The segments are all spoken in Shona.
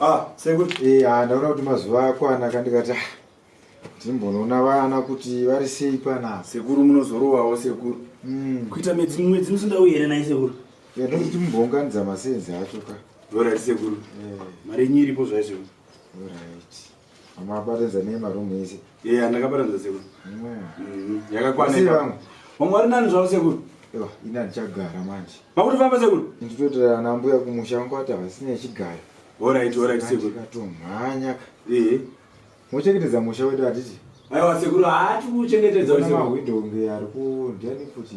Ah, sekuru. Eh, ah, ndaona kuti mazuva akwana kandikati ah, ndimbonoona vana kuti vari sei pana. Sekuru munozorowawo sekuru. Mm. Kuita mwedzi mwedzi musindau here naye sekuru? Yadoti yeah, timbonganidza masenzi acho ka. Alright sekuru. Yeah. Mari yenyu iripo zvaizvo. Alright. Mabatanza ne maroom ese. Yeah, ndakabatanza sekuru. Mm. Yakakwana. Sei vamwe? Vamwe vari nani zvavo sekuru? Ewa, ina ndichagara manje. Makuti famba sekuru? Nditotora ana mbuya kumusha wangu ati havasina yechigara. Alright, alright sekuru. Ndikatomhanya. Eh. Mochengetedza musha wedu hatiti? Aiwa sekuru, hati kuchengetedza sekuru. Mahwindo nge ari ku ndiani futi.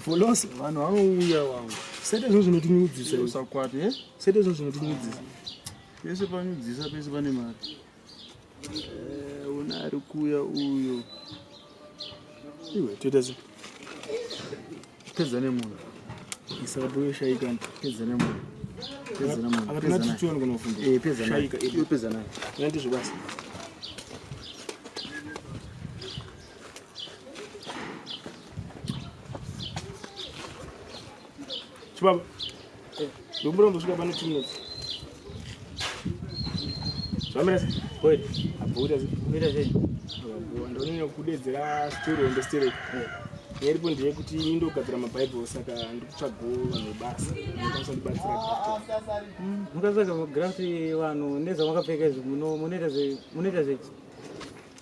foloso vanhu vanouya vavo sete zvo zvinotinyudzisa usakwate eh? sete zvo zvinotinyudzisa pese panyudzisa pese pane mari eh, una ari kuuya uyo iwe toita se pedza nemunhu isabuyoshaika pedza nemunhu pedza nayo chibaba eh, ndomura ndosvika pano two minutes zvamira se koi abhoita se kuita sei ndononyanya kudedzera story on the story eh. nyaripo ndeyekuti ini ndogadzira mabhaibheri saka ndikutsvago vanhu vebasa ndokwanisa ndibatsira mm, mukatsvaga magrant vanhu nezvamakapfeka izvi munoita zvechi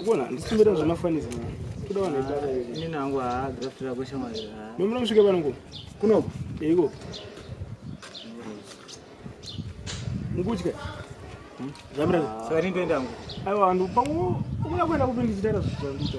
Ukona ndisimbira zvemafanisi mwana. Kuda vanhu vataka hivi. Ini nangu haa graftira kwesha mwana. Nomura musvike pano ngo. Kuno. Ego. Ngutya. Zamira. Saka ndindoenda ngo. Aiwa ndu pangu. Ukuna kwenda kupindizitara zvitandita.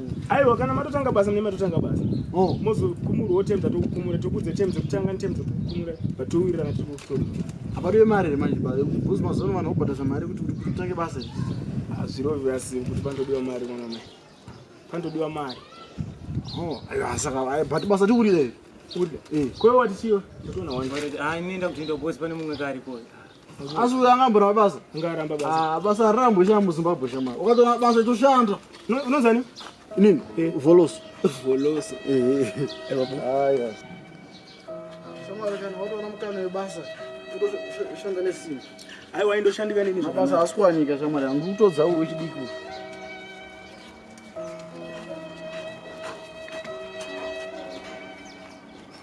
aiwa kana matotanga basa mune matotanga basa oh. mozokumurwawo tem dzatokukumura tokudze tem dzekutanga netem dzekukumura but towirirana tiri kukutora apariwe mari here manje bcause mazuva ano vanhu vobhadhasa mari kuti kuti kutange basa iri ah, zvirovira simu kuti panotodiwa mari mwana mai panotodiwa mari oh, aiwa saka but basa tikurire kwewe watichiwa ndotoona wani ah, inoenda kuti ndobosi pane mumwe kaarikoyo asi uyo angamboramba basa ngaramba basa ah, basa rambo sha muzimbabwe shama ukatoona basa itoshanda unozani nini eh. voloso voloso eh. eh, shamwari kana watoona mukana webasa utoshanda nesimba aiwa indoshandika nini zvabasa asi kuwanika shamwari yangu kutodza uwe chidiki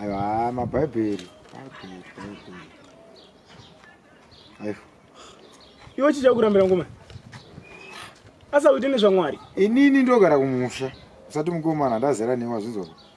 aiwa mabhaibheri iwe chii chakurambira ngoma asakuite nezvamwari inini ndogara kumusha usati mukomana ndazera newa zvinzwa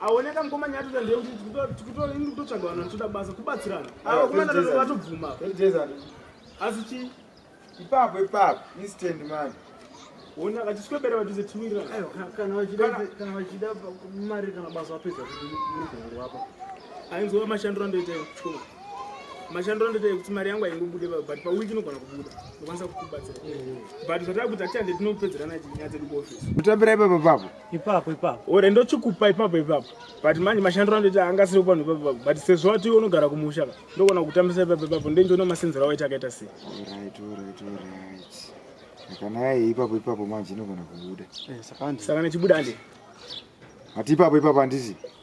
aoneka mukoma nyaya toda ndeyekuti tikutoini kutotsvaga vanhu vanotoda basa kubatsirana ah, ava kumana tano vatobvuma asi chii ipapo ipapo instant man ona vachiswebera vachise tiwirirana vachida mari kana basa vapedza kuigongo apa ainzova mashandiro andoita ekuchikoma mashandiro andoita ekuti mari yangu aingobude but pawiki inogona kubuda ndokwanisa kukubatsira but zvatava kuti atiande tinopedzerana nyaya dzedu kuofisi kutambira ipapo papo ipapo ipapo ore ndochikupa ipapo ipapo but manje mashandiro andoiti anga asiri kupanhu ipapo ipapo but sezvo wati iwe unogara kumusha ka ndokona kutambisa ipapo ipapo ndendiona masenzero awaiti akaita sei kana yaye ipapo ipapo manje inogona kubuda eh, saka nechibuda andi hati ipapo ipapo handiti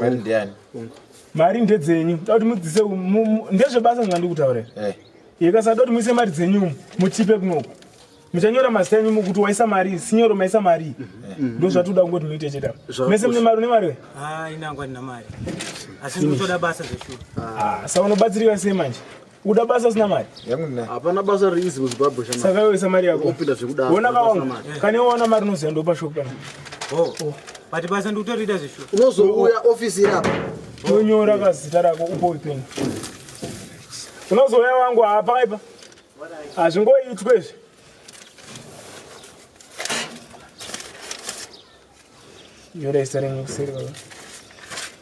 mari ndiani mari ndedzenyu da kuti mudzise ndezvebasa zvandiri kutaurira eh. ikasada kuti muise mari dzenyu mutipe kunoku muchanyora mazita enyu mukuti waisa mari sinyoro maisa mari mm-hmm. ndo zvatoda kungoti muite chete mese mune mari une mari we ah, ah, sa unobatsirika sei manje Uda basa sina mari? Yangu nina. Hapana basa riizi mu Zimbabwe shama. Saka wewe samari yako. Upinda zvekudaro. Wona ka wangu. Kani wona mari unoziva ndo pa shop kana. Oh. oh. But basa ndi utorida zvisho. Unozouya office iri apa. Unyora ka zita rako upo ipeni. Unozouya wangu hapa ipa. Hazvingoitwe izvi. Nyora zita renyu kuseri baba.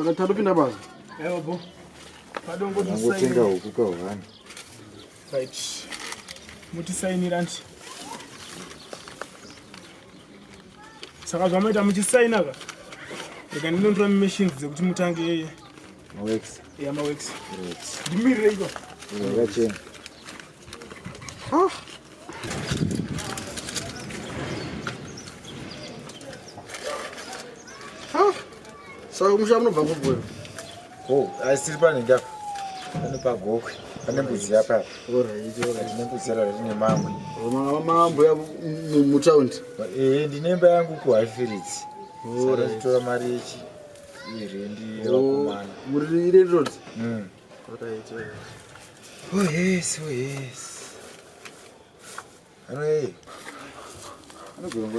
Akatadopinda basa. Evo bo. Padongo tisayi. Ngotenga huku kahwani. Right. Muti saini ranti. Saka zvamaita muchi saina ka? Reka ndinondira machines dzekuti mutange yeye. Mawex. Yeah, mawex. Right. Ndimirire iko. Ngacheni. Ah. Ah. Saka kumusha munobva kubwera. Oh, asiri pane ndapa. Pane pagokwe. Pane mbudzi yapa. Alright, alright. Pane mbudzi yara rine mamwe. Mama mambo ya mu town. Eh, ndine mba yangu ku Highfields. Alright. Sasa tora mari yechi. Iri ndi wakumana. Oh, muri ire road. Mm. Alright, alright. Oh yes, oh yes. Ano eh. Ano gombo.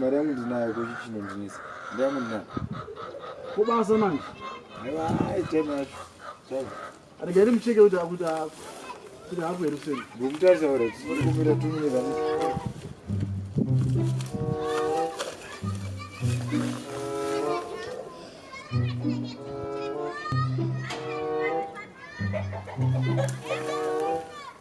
mari yangu ndinayo kuti chinondinisa mari yangu ndinayo kubasa manje aiwa time yacho time regai mucheke kuti akuti kuti hapo here kuseni ngokutarisa ora tikumira tumine vani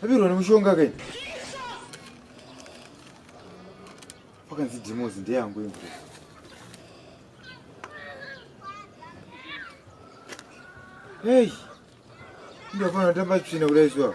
Tabirwa nemushonga kai. Pakanzi demos ndeyangu imvura. Hey. Ndafana tamba tsvina kudai zuwa.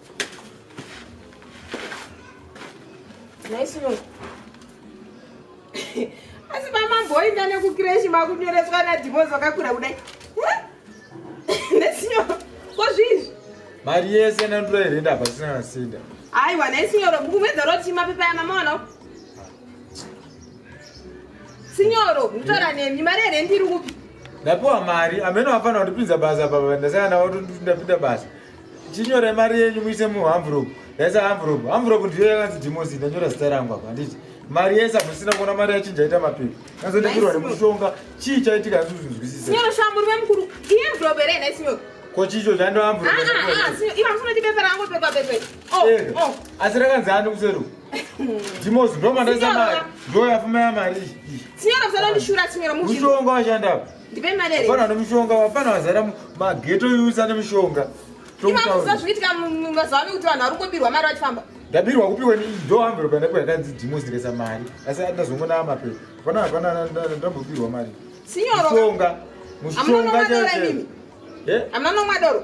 asi mamamboinda nekukreshi makunyoreswa nadhimozi vakakura kudai nesinyoro ko zviizvi mari yese nandura here ndabva tisina nasinda aiwa nesinyoro kumedza roti mapepa ya mama wanawo sinyoro kutora nemi mari here ndiri kupi ndapiwa mari amene wafanira kundipinza basa papa ndasaka ndawatondipinda basa chinyore mari yenyu muise muhamvuropu yaisa hamvuropu hamvuropu ndiyo yakanzi dhimosi ndanyora zita rangu apa handiti mari yese amusina kuona mari yachinja ita mapepa kazondipirwa nemushonga chii chaitika asi uzinzwisisa ko chicho chandohamvuropu asi rakanzi ani kuseruku ndimozi ndomandaisa mari ndoyafuma ya mari mushonga washandapo Ndipe mari here? Hapana nemushonga, hapana wazara mageto yusa nemushonga. Imakuza zvikitika mazuva ano kuti vanhu vari kungobirwa mari vachifamba. Ndabirwa kupihwa ni do hambiro kana kwa yakanzi dimo zikesa mari. Asi ndazongona ama pe. Hapana hapana ndambobirwa mari. Sinyoro. Mushonga. Mushonga chete. Eh? Amana nomwa doro.